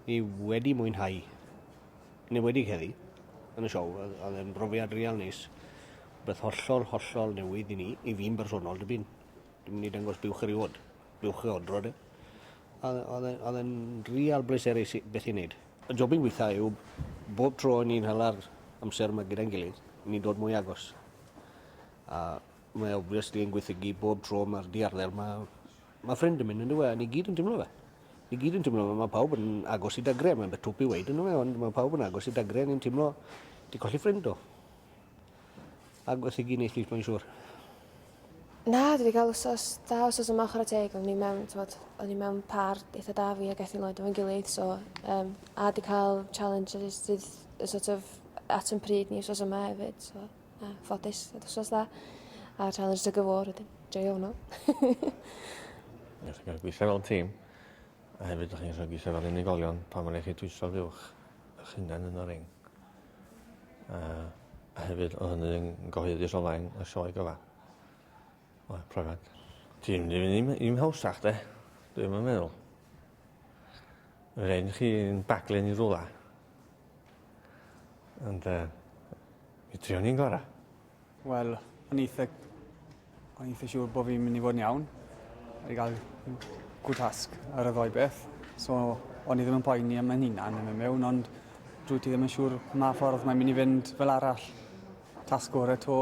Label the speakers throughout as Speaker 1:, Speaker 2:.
Speaker 1: Ni wedi mwynhau. Yn enwedig heddi, yn y siow, oedd e'n brofiad real neis. Beth hollol, hollol newydd i ni, i fi'n bersonol, dim byd. Dwi'n mynd i dangos buwch eriod, buwch e odro de. Oedd e'n real bleserus beth i'n neud. Y job i'n gweitha yw bob tro ni'n hala'r amser yma gyda'n gilydd, ni'n dod mwy agos. A Mae obviously yn gweithygu bob tro mae'r diarddel yma. Mae ffrind yn mynd yn dywe, a ni gyd yn tymlo fe. Ni gyd yn tymlo fe, mae pawb yn agos i dagre, mae'n beth twp i weid yn fe, ond mae pawb yn agos i dagre, ni'n tymlo di colli ffrind do. A gweithygu neis lys mae'n siŵr.
Speaker 2: Na, dwi wedi cael wsos da, wsos yma chwarae teg, ond ni mewn, tywod, o'n i mewn par eitha da fi ac Ethel Lloyd efo'n gilydd, so, um, a di cael challenge sydd sort of at yn pryd ni wsos yma hefyd, so. A ffodus, oedd wrth dda. A tra yn ystod gyfôr, wedyn, joio hwnnw.
Speaker 3: Ydych chi'n gweithio fel tîm, a hefyd ydych chi'n rhoi gweithio fel unigolion pan mae'n eich dwyso fuwch eich hunain yn y ring. A, a hefyd, o hynny yn gyhoeddus o flaen y sioe gyfa. Wel profiad ti'n mynd i fyn' i'm i'm hawsach 'de? Dwi'm yn meddwl. Ma' rei' i chi un baglu yn 'i rwla. Ond yy mi trion ni'n gora. Wel
Speaker 4: o'n i itha o'n i itha siŵr bo' fi'n myn' i fod yn iawn. O'n i ga'l m- good task ar y ddou beth so o'n i ddim yn poeni am 'yn hunan yn myn' miwn ond dwyt ti ddim yn siŵr ma ffordd mae'n myn' i fynd fel arall. Task gore 'to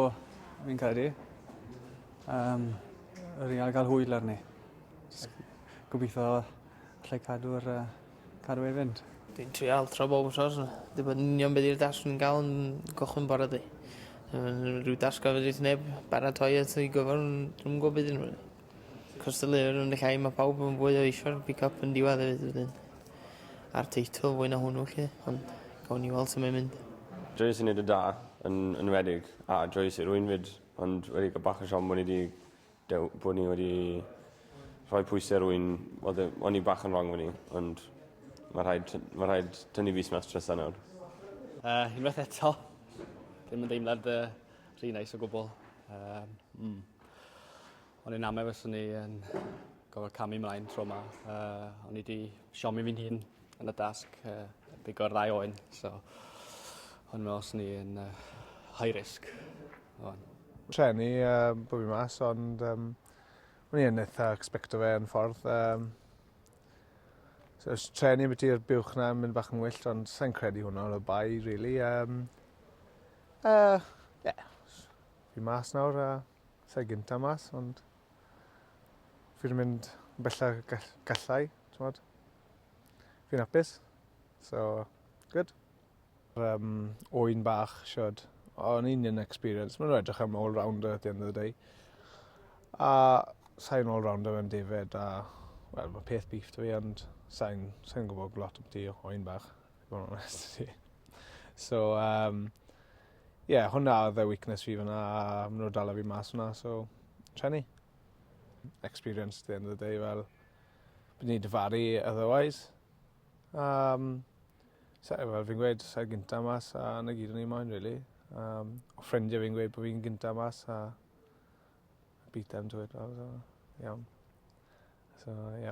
Speaker 4: fi'n credu. Um, yr i'n gael hwyl arni. Gobeithio allai cadw'r uh, cadw ei fynd. Dwi'n trial tro
Speaker 5: bob yn sos. Dwi'n bod union beth i'r dasg yn gael yn gochwyn bore di. Rwy'n dasg gofyd i'r neb baratoi at ei gyfer, dwi'n gwybod beth i'n rwy'n. Cystadleuwyr yn y llai mae pawb yn fwy o eisiau'r pick up yn diwedd hefyd wedyn. A'r teitl fwy na hwnnw lle, ond gawn ni weld sut mae'n mynd. Joyous yn neud yn da,
Speaker 6: yn enwedig a joyous i rwyn 'fyd ond wedi ca'l bach o siom bo' ni 'di dew- bod ni wedi rhoi pwyse rwyn odd e o'n i bach yn rong o'n i ond ma' rhaid t- ma' rhaid tynnu fys mas trysa nawr. Yy unwaith
Speaker 7: eto. Dim yn deimlad yy rhy neis o gwbwl. Yy mm. O'n i'n amau fyswn i yn gofod camu mlaen tro yma. Uh, o'n i wedi siomi fi'n hun yn y dasg uh, bigo'r ddau oen. So, o'n i'n meddwl ni yn uh, high risk. O'n.
Speaker 8: Trenu uh, bod fi mas, ond um, o'n i'n eitha expecto fe yn ffordd. Um, so, os trenu beth i'r buwch na, mynd bach yn wyllt, ond sa'n credu hwnna o'r bai, really. Um, uh, yeah. Fi mas nawr a sai gynta mas ond fi 'di mynd bella gall- gallai t'mod? Fi'n apus so good. Yym ŵyn bach shwd o yn union experience ma' n'w edrych am all rounder at the end of the day. A sai'n all rounder yn defaid a wel ma' peth beef 'da fi ond sai'n sai'n gwbod lot ambytu ŵyn bach i fo' yn onest 'da ti. So yym. Ie hwnna odd y weakness fi fan 'na a ma' n'w 'di dala fi mas fan 'na so treni. Experience at the end of the day fel byddwn i dyfaru otherwise. A yym sa- yy fel fi'n gweud sai gynta mas a 'na gyd o'n i moyn rili. Yym o' ffrindie fi'n gweud bo' fi'n gynta mas a beat them to it fel so iawn. So ie.